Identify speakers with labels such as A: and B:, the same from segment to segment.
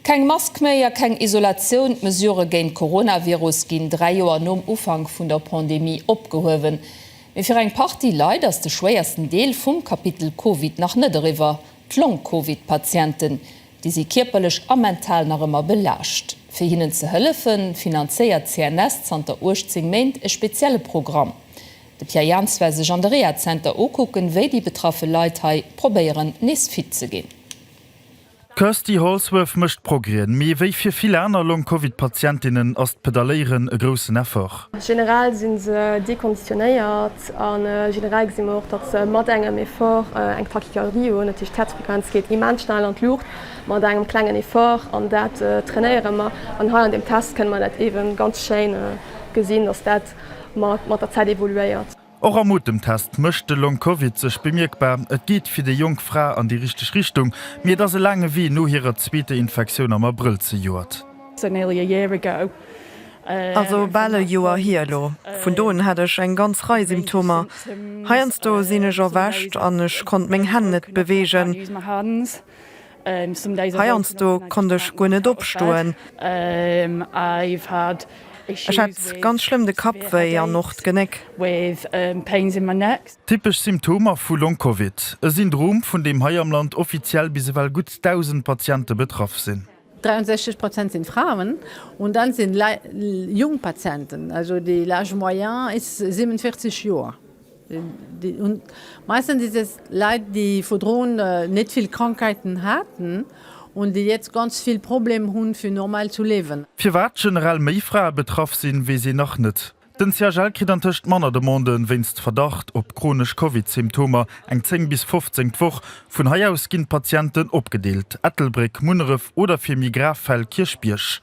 A: Keng Mask méi a keng Isolatioun, d'Mesurë géint d'Coronavirus ginn 3 Joer nom Ufank vun der Pandemie opgehuewen. Mee fir eng Partie Leit ass de schwéiersten Deel vum Kapitel Covid nach net eriwwer, d'Long-Covid-Patienten. Déi si kierperlech a mental nach ëmmer belaascht. Fir hinnen ze hëllefe finanzéiert d'CNS zanter 18 Méint e spezielle Programm. De Pierre Jans war sech an de Rehazenter ukucken, wéi déi betraffe Leit hei probéieren nees fit ze ginn. D'Kirsty Holsworth mécht Progrèen, mee wéi fir vill aner Long-Covid-Patientinnen ass d'Pedaléieren e groussen Effort. Generell si se dekonditionéiert a generell gesi mer och, datt se mat engem Effort eng Tachycardie hunn. Dat heescht, d'Häerzfrequenz geet immens schnell an d'Luucht mat engem klengen Effort an dat trainéiere mer. An hei an deem Test kënne mer dat eeben ganz schéin gesinn, datt dat mat der Zäit evoluéiert. Och am Otemtest mécht de Long Covid sech bemierkbar. Et geet fir déi jonk Fra an déi richteg Richtung, mee et ass e laange Wee no hirer zweeter Infektioun am Abrëll zejoert. Ass e bal e Joer hier elo. Vun do un hat ech eng ganz Rei Symptomer. Heiansdo sinn ech erwächt an ech konnt meng Hänn net beweegen. Heiansdo konnt ech guer net opstoen. Ech hat ganz schlëmm de Kappwéi an och d'Genéck. Typesch Symptomer vu Long-Covid, e Syndrom, vun deem hei am Land offiziell bis ewell gutt 1.000 Patiente betraff sinn. 63 Prozent sinn Fraen un dann sinn jonk Patienten, also de l'âge moyen is 47 Joer. Meistens is es Leit déi vordrun net vill Krankheiten haaten und déi jetzt ganz vill Problem hun fir normal zu lewen. Firwat generell méi Frae betraff sinn, weess een nach net. Den CHL kritt antëscht manner Demanden wéinst Verdacht op chronesch Covid-Symptomer, eng 10 bis 15 d'Woch. Vun hei aus ginn d'Patienten opgedeelt, Ettelbréck, Munneref oder fir méi grav Fäll Kierchbierg.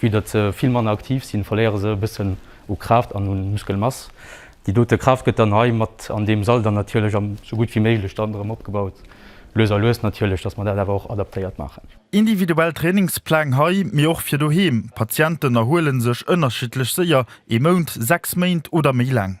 A: Vue datt se vill manner aktiv sinn, verléiere se e bëssen u Kraaft an un Muskelmass. Déi dote Kraaft gëtt dann hei mat an deem Sall dann natierlech am sou gutt wéi méiglech dann erëm opgebaut. Lues a lues natierlech, datt mer dat awer och adaptéiert maachen. Individuell Trainingspläng hei, mee och fir doheem. D'Patienten erhuelen sech ënnerschiddlech séier, ee Mount, sechs Méint oder méi laang.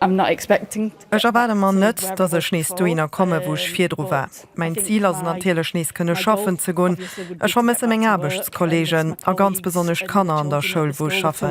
A: Ech erwaarde mer net, datt ech nees dohinner komme wou ech virdru war. Mäin Zil ass et natierlech nees kënne schaffen ze gonn. Ech vermësse meng Aarbechtskollegen a ganz besonnesch d'Kanner an der Schoul wou ech schaffen.